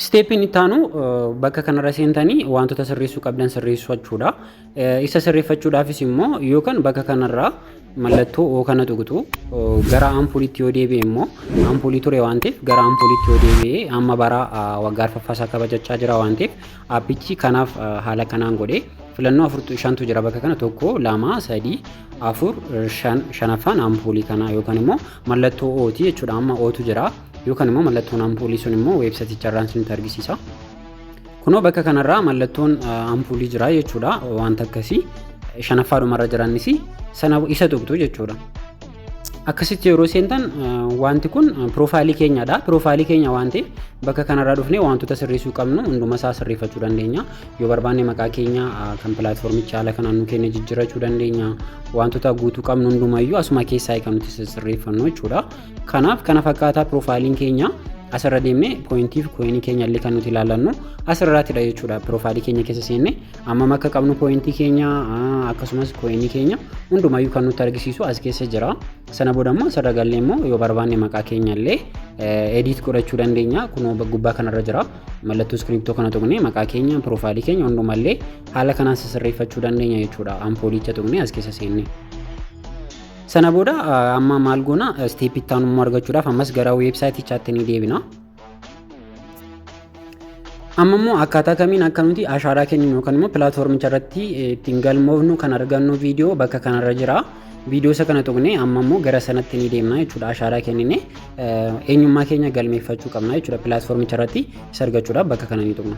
Isteeppiin itti aanu bakka kanarra seentanii wantoota sirreessuu qabdan sirreeffachuudha. Isa sirreeffachuudhaafis immoo yookaan bakka kanarraa mallattoo oo kana tuqxu gara ampuuliitti yoo deebi'e immoo ampuulii ture waan ta'eef gara ampuuliitti yoo deebi'e amma bara waggaa arfaffaasaa kabajachaa jira waan ta'eef appichi kanaaf haala kanaan godhee filannoo afurtu shantu jira bakka kana tokko lama sadii afur shan shanaffaan ampuulii kana yookaan immoo mallattoo ooti jechuudha amma ootu jira. Yookaan immoo mallattoon ampuulii sun immoo weebsaayiticharraan isinitti argisiisa. Kunoo bakka kanarraa mallattoon ampuulii jira jechuudha wanta akkasii. Shanaffaa dhumarra jiranis sana isa tuqxu jechuudha. Akkasitti yeroo seentan wanti kun piroofaayilii keenyadha. Piroofaayilii keenya waan ta'eef bakka kanarraa dhufnee wantoota sirreessuu qabnu hunduma isaa sirreeffachuu dandeenya. Yoo barbaanne maqaa keenya kan pilaatfoormicha haala kanaan nu kenne jijjiirrachuu dandeenya. Wantoota guutuu qabnu hundumayyuu asuma keessaa kan nuti sirreeffannu jechuudha. Kanaaf kana fakkaataa piroofaayiliin keenya asirra deemnee pooyintii fi kooyinii keenya illee kan nuti ilaallannu asirraatidha jechuudha. Piroofaayilii keenya keessa seenne ammam akka qabnu pooyintii keenya akkasumas kooyinii keenya hundumayyuu kan nutti argisiisu as keessa jira. Sana booda immoo asirra gallee immoo yoo barbaanne maqaa keenya illee edit godhachuu dandeenya. Kunoo gubbaa kanarra jira. Mallattoo iskiriptoo kana tuqnee maqaa keenya piroofaayilii keenya hundumallee haala kanaan sirreeffachuu dandeenya jechuudha. Ampoolicha tuqnee as keessa seenne. Sana booda amma maal goona step itti aanu immoo argachuudhaaf ammas gara weebsaayitichaatti ni deebina. Amma immoo akkaataa kamiin akka nuti ashaaraa kenninu yookaan immoo pilaatfoormicha irratti ittiin galmoofnu kan argannu viidiyoo bakka kanarra jira. Viidiyoo isa kana tuqnee amma immoo gara sanatti ni deemna jechuudha. Ashaaraa kennine eenyummaa keenya galmeeffachuu qabna jechuudha. Pilaatfoormicha irratti isa argachuudhaaf bakka kana ni tuqna.